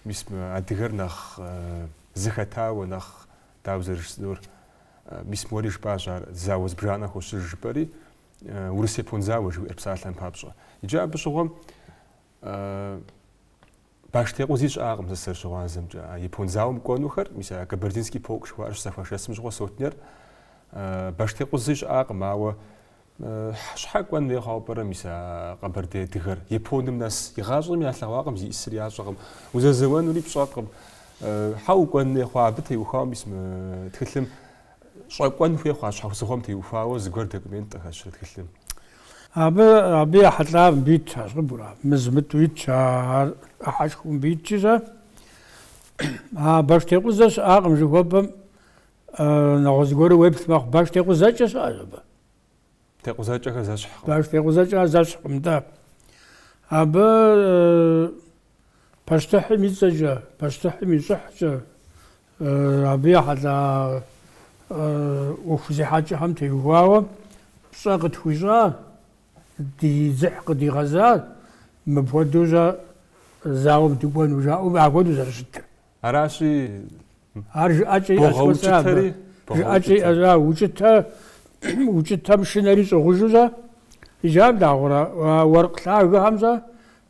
Мис мы адыгэр нэхъ зыхэтауэ, нэхъ дауэ зэрыжысӏэнур, мис уэри жыпӏащ ар зауэ зыбжанэ хощыж жыпӏэри, Урыс япон зауэ жыхуиӏэр псалъэм папщӏэ. Иджы абы щыгъуэм баштекъузи щыӏакъым сэ сызэрыщыгъуазэмкӏэ. А япон зауэм кӏуэнухэр, мис а Кабардинский полк жыхуаӏэр щызэхуашэсым щыгъуэ сотнер, баштекъузи щыӏакъым, ауэ Щхьэ кӏуэн хуей хъуауэ пӏэрэ мис а къэбэрдей адыгэр? Японым нэс игъащӏэм ялъэгъуакъым зиӏысыр ящӏэкъым, узэзэуэнури пщӏэкъым. Хьэ укӏуэн хуей хъуа абы теухуауэ мис мы тхылъым? Щӏэкӏуэн хуей хъуа щхьэусыгъуэм теухуауэ зыгуэр документ къыхэщрэ тхылъым? Абы, абы ехьэлӏа мыбы итщ, ар щӏыбура? Мы зымытӏу итщ, ар ӏыхьэшхуэу мыбы итщи щэ? А баштекъузэ щыӏакъым жыхуэпӏэм Нэгъуэщӏ зыгуэру уеплъ мэхъу, баштекъузэкӏэ щыӏэщ абы. Текъузэкӏэхэр зэщхькъым. Баштекъузэкӏэ зэщхькъым, да. Абы пащтыхьым и цӏэкӏэ, пащтыхьым и щӏыхькӏэ, абы ехьэлӏа ӏуэху зехьэкӏэхэм теухуауэ пщӏэ къытхуищӏа, ди дзыхь къыдигъэза, мыпхуэдэу щӏэ зауэм дыкӏуэну жаӏэу апхуэдэу зэрыщытыр. Аращи, Ар жыӏэкӏэ иӏэщ уэ сэ абы. богъэукӏытэри, Жыӏэкӏэ богъэукӏытэ. иӏэщ, а, укӏытэ, укӏытэм шынэри щӏыгъужу щӏэ? Иджы ар дагъуэрэ, а уэркъ лъагэхэм щӏэ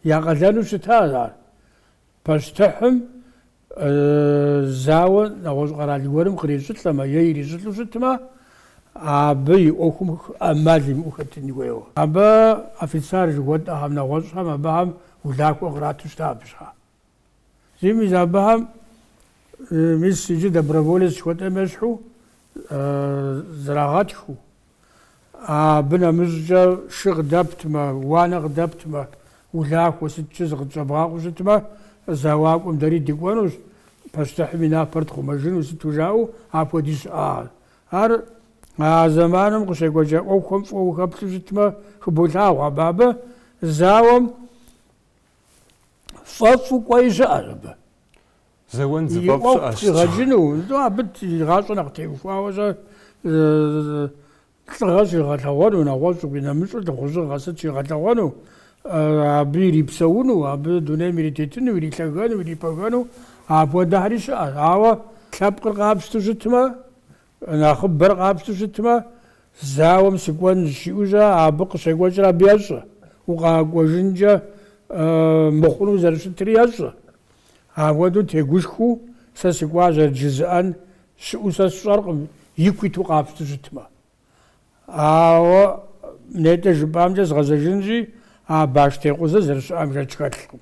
я къалэну щыта ар? Пащтыхьым зауэ нэгъуэщӏ къэрал гуэрым кърищӏылӏэмэ е ирищӏылӏу щытмэ, абы и ӏуэхум ӏэмал имыӏэу хэтын хуейуэ. Абы офицер жыхуэтӏэхэм, нэгъуэщӏхэм абыхэм улахуэ кърату щыта абы щхьэ. Зыми зы абыхэм мис иджы доброволец жыхуэтӏэм ещхьу зрагъэтхыу, абы нэмыщӏкӏэ шы къыдэптмэ, уанэ къыдэптмэ, улахуэ сыткӏэ зыкъытщӏэбгъакъуэу щытмэ, зэуакӏуэм дэри дыкӏуэнущ, пащтыхьым и напэр тхъумэжыну, сыту жаӏэу апхуэди щыӏащ. Ар а зэманым къыщекӏуэкӏа ӏуэхухэм фӏыуэ ухэплъу щытмэ, хыболъагъуэ абы абы зауэм фӏэфӏу кӏуэи щыӏэщ абы. Зэуэн И зыфӏэфӏ ӏуэху щыӏэщ. пхигъэкӏыну, итӏу абы и гъащӏэр нэхъ теухуауэ щӏэ, лӏыгъэ щигъэлъэгъуэну, нэгъуэщӏу къинэмыщӏу лӏыхъужьыгъэ сыт щигъэлъэгъуэну, абы ирипсэуну, абы дунейм иритетыну, ирилъэгэну, ирипэгэну, апхуэдэхэри щыӏэщ. Ауэ лъэпкъыр къапщту щытмэ, Нэхъыбэр къапщту щытмэ, зауэм сыкӏуэн жиӏу щӏэ, абы къыщекӏуэкӏыр абы ещӏэ, укъэкӏуэжынкӏэ мыхъуну зэрыщытри ещӏэ. Ахуэдэу тегушхуэу сэ сыкӏуащэрэт жызыӏэн щыӏэу сэ сщӏэркъым, ику иту къапщту щытмэ. Ауэ нетӏэ жыпӏамкӏэ згъэзэжынщи, а баштекъузэ зэрыщыӏэм шэч хэлъкъым.